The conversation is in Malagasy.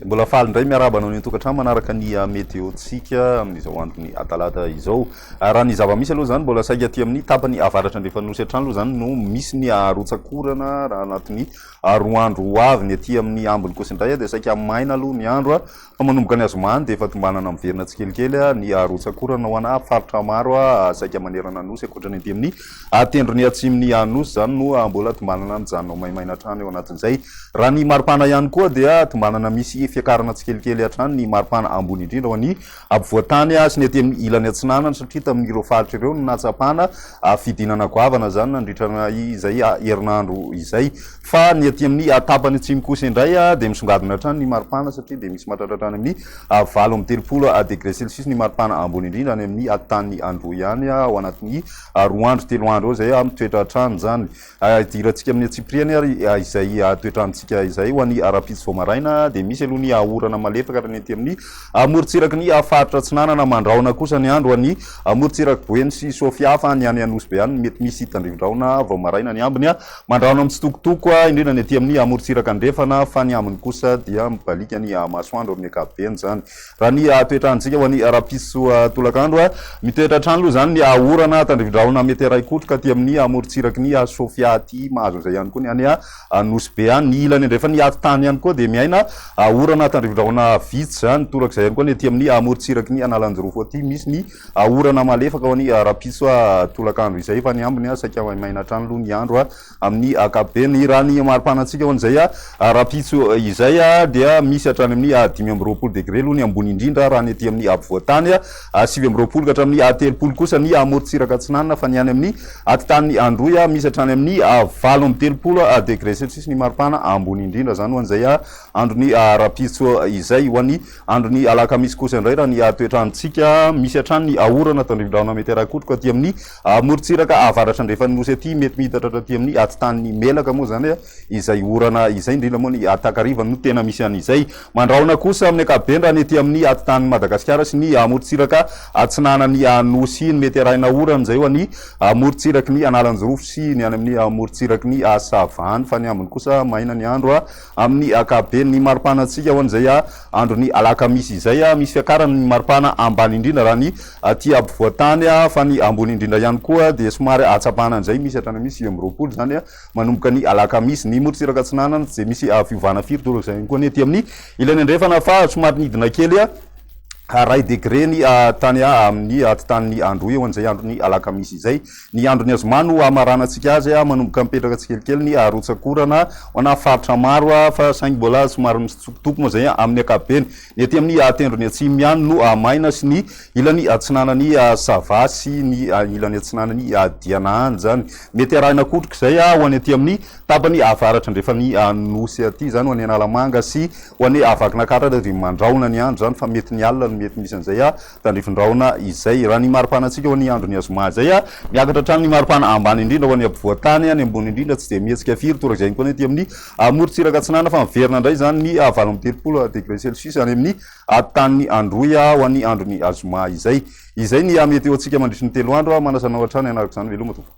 Mbola faly indray miarahaba anao ny tokantrano manaraka ny ah, meteontsika amin'izao andron'ny atalata izao. Ah, raha ny zava-misy aloha izany mbola saika aty amin'ny tapany avaratra andrefan'ny nosy hatrany aloha izany no misy ny arotsakorana raha anatin'ny ary roa andro ho avy ny aty amin'ny ambiny kosa indray dia saika maina aloha ny andro fa manomboka ny azomahany dia efa tombanana miverina tsikelikely ny arotsakorana ho ana faritra maro saika manerana ny nosy ankoatra ny aty amin'ny tendrony atsimon'ny nosy izany no mbola tombanana mijanona ho maimaina hatrany eo anatin'izay raha ny maripana ihany koa dia tombanana misy fiakarana tsikelikely hatrany ny maripana ambony indrindra ho an'ny Ampovoan-tany azy ny ety ilany atsinanana satria tamin'ireo faritra ireo no nahatsapana fidinana goavana izany nandritra izay herinandro izay. Fa ny ety amin'ny tapany atsimo kosa indray dia misongadina hatrany ny maripana satria dia misy mahatratra hatrany amin'ny valo amby telopolo degre celsius ny maripana ambony indrindra any amin'ny tany Androy any ao anatin'ny roa andro telo andro eo izay mitoetra hatrany izany. Idirantsika amin'ny antsipiriany ary izay toetr'androntsika izay. Ho an'ny ara-pitsy vao maraina dia misy aloha ny orana malefaka ary ny ety amin'ny amorontsiraky ny faritra atsinanana. Mandrahona kosa ny andro ho an'ny amorontsiraky Boeny sy Sofia fa ny any Anosibe ihany no mety misy tandrivindrahona vao maraina. Ny ambiny mandrahona mitsitokotoko indrindra ny ety amin'ny amorontsiraky andrefana fa ny ambiny kosa dia mibaliaka ny masoandro amin'ny ankapobeny izany. Raha ny toetrantsika ho an'ny rapisoa tolakandro, mitoetra hatrany aloha izany ny orana tandrivindrahona mety haray kotro ka aty amin'ny amorontsirak'i ny Sofia aty, mahazo an'izay ihany koa ny any Nosy Be any. Ny ilany andrefan'ny ati-tany ihany koa dia miaina orana tandrivindrahona vitsy izany toraka izay ihany koa ny aty amin'ny amorontsirak'i ny Analanjirofo aty, misy ny orana malefaka ho an'ny rapisoa tolakandro izay fa ny ambiny saika maimaina hatrany aloha ny andro. amin'ny ankapobeny. Ny raha ny maripana antsika ho an'izay rahampitso izay dia misy hatrany amin'ny dimy amby roapolo degre aloha ny ambony indrindra raha ny aty amin'ny afovoan-tany, sivy amby roapolo ka hatramin'ny telopolo kosa ny amorontsiraka atsinanana fa ny any amin'ny atitanin'i Androy misy hatrany amin'ny valo amby telopolo degre celsius ny maripana ambony indrindra. Izany ho an'izay andron'ny rahampitso izay. Ho an'ny andron'ny alakamisy kosa indray raha ny toetr'androntsika misy hatrany ny orana tandrifin-drahona mety harakotroka aty amin'ny. Amorontsiraka avaratrandrefan'ny Nosy aty, mety mihitatra hatraty amin'ny atitan'ny Melaka moa izany izay orana izay, indrindra moa ny takariva no tena misy an'izay. Mandrahona kosa amin'ny ankapobeny raha ny ety amin'ny atitan'ny Madagasikara sy ny amorontsiraka atsinanan'ny Nosy iny. Mety arahina orana amin'izay eo ny amorontsiraky ny Analanjirofo sy ny any amin'ny amorontsiraky ny Sava any, fa ny ambiny kosa maina ny andro. Amin'ny ankapoben' ny mari-panantsika ho an'izay andron' ny alakamisy izay, misy fiakaran' ny mari-pana ambany indrindra raha ny aty ampovoan-tany, fa ny ambony indrindra ihany koa dia somary ahatsapana an'izay, misy hatrany amin'ny sivy amby roapolo izany manomboka ny alakamisy. Ny morontsiraka atsinanana tsy dia misy fiovana firy, toa izay ihany koa ny aty amin'ny ilany andrefana, fa somary nidina kely iray degre ny tany amin'ny atitanin' ny andro eo an'izay andron' ny alakamisy izay. Ny andron'ny azoma no hamaranantsika azy, manomboka mipetraka tsikelikely ny harotsakorana ho ana faritra maro fa saingy mbola somary mitsitokotoko moa izay amin'ny ankapobeny. Ny ety amin'ny tendrony atsimo ihany no maina sy ny ilany atsinanan'i Sava sy ny ilany atsinanan'i Diananjany. Mety arahina kotrika izay ho any aty amin'ny tapany avaratra andrefan'ny nosy aty izany, ho any Analamanga sy ho any Vakinankaratra dia mandrahona ny andro izany fa mety ny alina no mety misy an'izay Tandrifindrahona izay. Raha ny maripanantsika ho an'ny andron'ny azoma izay, miakatra hatrany ny maripana ambany indrindra ho an'ny ampovoan-tany, ny ambony indrindra tsy dia mihetsika firy, toa izay ihany koa ny ety amin'ny morontsiraka atsinanana, fa miverina indray izany ny valo amby telopolo degré celsius any amin'ny tanin'i Androy ho an'ny andron'ny azoma izay. Izay ny météo-ntsika mandritry ny telo andro, manasa anao hatrany hanaraka izany veloma tompoko.